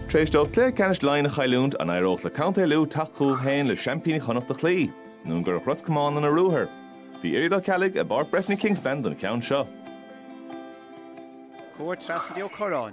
Tar éis dó cluiche ceannais Laighean a chailliúint, an éireodh le Contae Lú teacht chucu féin le seaimpíní Chonnacht a chloí, nó an gcuirfeadh Ros Comáin lena ruathar? Bhí Gearóid Ó Ceallaigh i bPáirc Breifne Kingspan don cheann seo. Chuaigh trasna do Ó Corráin.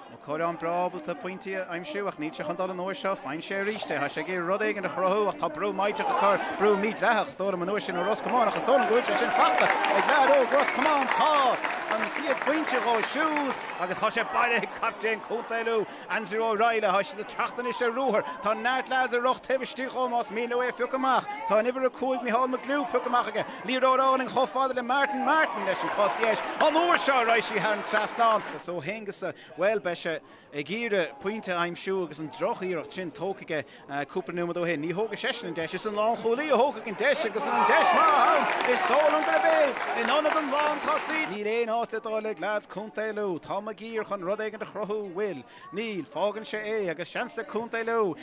Ó Corráin breá ábalta pointí a aimsiú ach níl sé chun dul an uair seo. Faigheann sé arís é. Tá sé ag iarraidh rud éigin a chruthú ach tá brú maíteach ag cur, brú mídhleathach, is dóigh liom an uair sin ó Ros Comáin ach is dóigh liom go bhfuil sé sin fachta ag lucht Ros Comáin. Tá an chéad phointe dhó siúd. Agus tá sé bailithe ag captaen Contae Lú, Andrew O'Reilly. Tá siad ag teacht anois ar ruathar. Tá neart leaids ag rith taobh istigh dhó más mian leo é a phiocadh amach. Tá an uimhir a cúig Micheál McGlew pioctha amach aige. Liathróid álainn chomh fada le Martin. Martin leis an gcos dheis. An uair seo raghaidh sí thar an trasnán. So tá an deis ann, bhuel, beidh sé ag iarraidh pointe a aimsiú agus an droch iarracht sin tógtha aige. Cúpla nóiméad ó shin ní thógfaidh seisean an deis, is an lánchúlaí a thógfaidh an deis agus an deis mhaith ann. Is dóigh liom gurb é in ionad an lántosaí. Níl aon áit le dul ag leaids Contae Lú. Tá Maguire chun rud éigin a chruthú, bhfuil? Níl. Fágann sé é agus seans ag Contae Lú.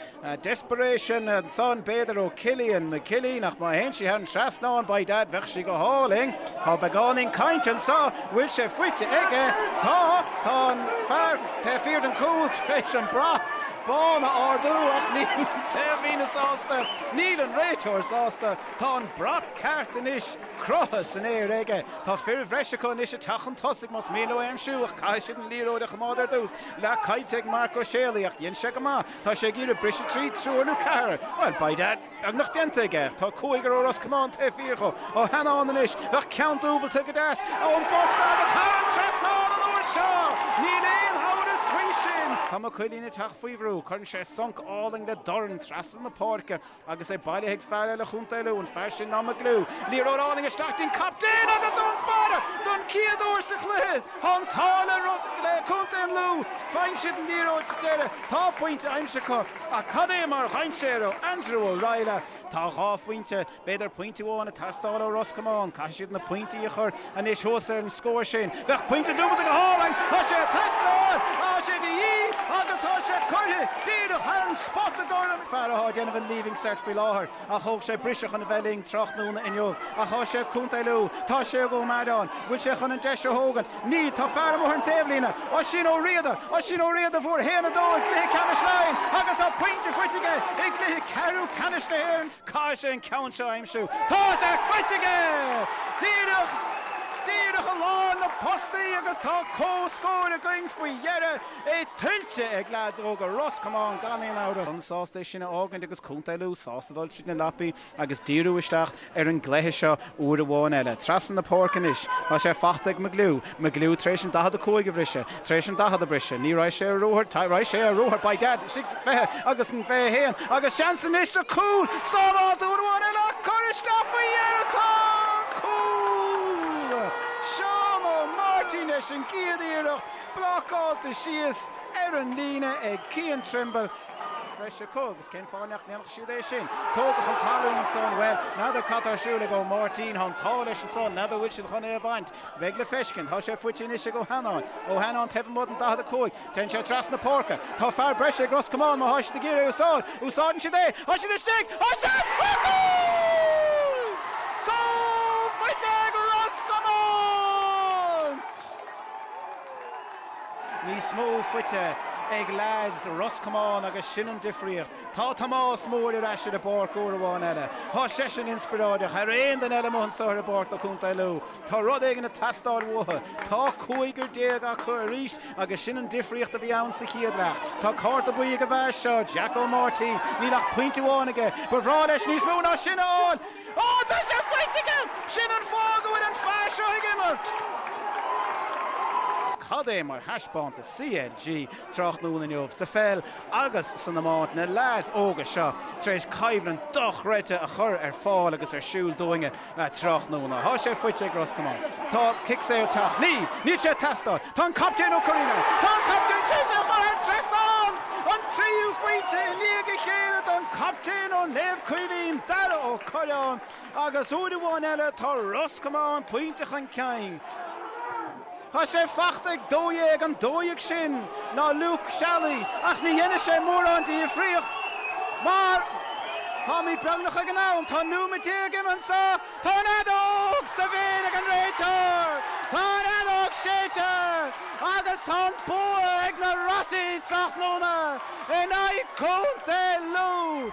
Desperation ansan b'fhéidir ó Cillian McKilleen ach má théann sí thar an trasnán, by dad, bheadh sí go hálainn. Tá beagáinín cainte anso. Bhfuil sé faighte aige? Tá. Tá an fear taobh thiar den chúl tar éis an brat. bán a ardú ach níl an taobhlíneach sásta, níl an réiteoir sásta, tá an brat ceart anois croite san aer aige. Tá fir bhreis acu anois ag teacht chun tosaigh más mian leo é a aimsiú ach caithfidh siad an liathróid a choimeád ar dtús. Leath caillte ag Marc Ó Séalaigh ach dhein sé go maith, tá sé ag iarraidh briseadh trí triúr nó ceathrar. Well, by dad! Beagnach déanta aige. Tá cúigear ó Ros Comáin taobh thiar dhó. Ó, tá an deis ann anois. Bheadh ceann dúbailte go deas ón bposta agus thar an trasnán an uair seo! Níl aon amhras faoi sin! Tá Mac Cillín ag teacht faoi bhrú. Cuireann sé sonc álainn le dorn trasna na páirce agus é bailithe ag fear eile Chontae Lú, an fear sin ná McGlue. Liathróid álainn isteach dtí an captaen agus ón mbarra! Don chéad uair sa chluiche tá an t-ádh le Contae an Lú. Faigheann siad an liathróid sa deireadh. Tá pointe aimsithe acu. Ach cad é mar dhainséar ó Andrew O'Reilly? Tá dhá phointe, b'fhéidir pointe amháin, ag teastáil ó Ros Comáin. Caithfidh siad na pointí a chur anois thuas ar an scór sin. Bheadh pointe dúbailte go hálainn. Tá sé ag teastáil. Tá sé de dhíth agus tá sé curtha díreach ceann ar an spota ag Ó Corráin, fear atá ag déanamh an Leaving Cert faoi láthair. Ach thóg sé briseadh chun a bheith linn tráthnóna inniu. Ach tá sé ag Contae Lú. Tá sé ag Ó Mearáin. Bhfuil sé chun an deis a thógaint? Níl. Tá fear amuigh ar an taobhlíne. Oisín Ó Riada! Oisín Ó Riada a fuair 1-2 i gcluiche ceannais Laighean agus tá pointe faighte aige i gcluiche ceathrú ceannais na hÉireann. Caithfidh sé an ceann seo a aimsiú. Tá sé faighte aige! Díreach, díreach i lár na bpostaí agus tá comhscór againn faoi dheireadh. É tuillte ag leaids óga Ros Comáin gan aon amhras. An-sásta é sin a fhágaint agus Contae Lú sásta dul tríd na lapaí agus díriú isteach ar an gcluiche seo uair amháin eile. Trasna na páirce anois. Tá sé faighte ag McGlew. McGlew tar éis an 45 a bhriseadh. Tar éis an 40 a bhriseadh. Ní raibh sé ar a rothar. Tá raibh sé ar a rothar. By dad istigh den 20 agus an 21 agus seans anois do chúl. Sábháilte uair amháin eile ach curtha isteach faoi dheireadh. Tá an cúl ansan! Ó Máirtín leis an gcéad iarracht. Blocáilte síos ar an líne ag Cian Trimble. Breis acu agus cén fáth nach ndéanfadh siad é sin? Tógadh chun talún ansan. Bhuel, n'fheadar cad tá ar siúl ag Ó Máirtín. Tá an t-ádh leis ansan. N'fheadar bhfuil siad chun é a bhaint. Beidh le feiscint. Tá sé faighte anois ag Ó hAnnáin. Ó hAnnáin taobh amuigh den 45. Téann sé trasna na páirce. Tá fear breise ag Ros Comáin má thá siad ag iarraidh é a úsáid. Úsáideann siad é. Thá siad istigh. Thá siad! Gól! Gól faighte ag Ros Comáin! níos mó faighte ag leaids Ros Comáin agus sin an difríocht. Tá Tomás Mór ar ais ar an bpáirc uair amháin eile. Tá seisean inspioráideach thar aon duine eile amuigh anseo ar an bpáirc do Chontae Lú. Tá rud éigin ag teastáil uathu. Tá cúigear déag acu arís agus sin an difríocht a bhí ann sa chéad leath. Tá cárta buí ag an bhfear seo, Jack Ó Máirtín. Níl ach pointe amháin aige. Ba bhreá leis níos mó ná sin a fháil! Ó, tá sé faighte aige! Sin an fáth go bhfuil an fear seo ag imirt! Cad é mar thaispeántas CLG tráthnóna inniu sa pheil agus san iomáint. Na leaids óga seo tar éis coimhlint dochreidte a chur ar fáil agus ar siúl dúinne tráthnóna. Tá sé faighte ag Ros Comáin. Tá cic saor ag teacht. Níl! Níl sé ag teastáil! Tá an Captaen Ó Curraoin, Tá an captaen tar éis é a chur thar an trasnán, an tríú pointe i ndiaidh a chéile don Chaptaen ó Naomh Caoimhín, Dara Ó Curráin, agus uair amháin eile tá Ros Comáin pointe chun cinn. Tá sé fachta ag 12, an 12 sin ná Luke Shally ach ní dhéanfaidh sé mórán difríocht mar táimid beagnach ag an am, tá nóiméad déag ionann sa. Tá an fheadóg sa bhéal ag an réiteoir! Tá an fheadóg séidte agus tá an bua ag na Rossies tráthnóna in aghaidh Contae Lú!